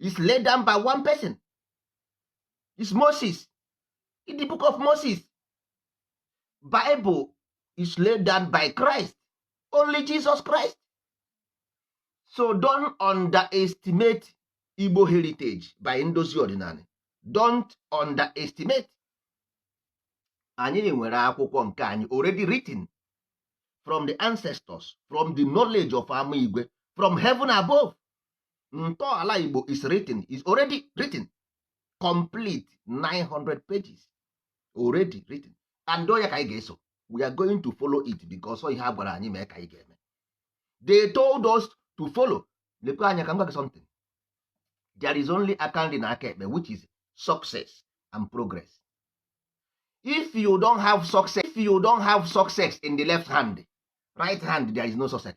is laid down by one person is Moses in the book of Moses Bible is laid down by Christ only Jesus Christ so don't underestimate Igbo heritage by ndozi ọdịnala don't underestimate anyị nwere akwụkwọ nke anyị already written from the ancestors from the knowledge of ama igwe from heaven above ntọala igbo is written is already written complete 900 pages already written and ọ ya ka anyị ga-eso we are going to follow it because ọ ihe a gwara anyị mee ka anyị ga-eme they told us to follow lekwe anya ka m gwa gị something there is only aka nri na aka ekpe which is success and progress if you don have success in the left hand right hand there is no success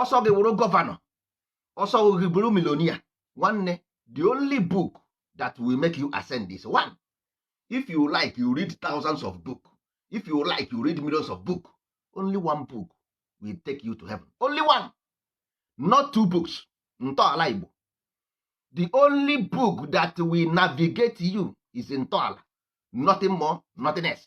ọsọ gị wụrụ gọvanọ ọsọ gị bụrụ milonia nwanne the only book that will make you ascend this one if you like you read thousands of book if you like you read millions of book only one book will take you to heaven only one not two books ntọala igbo the only book that will navigate you is ntọala nothing more nothing else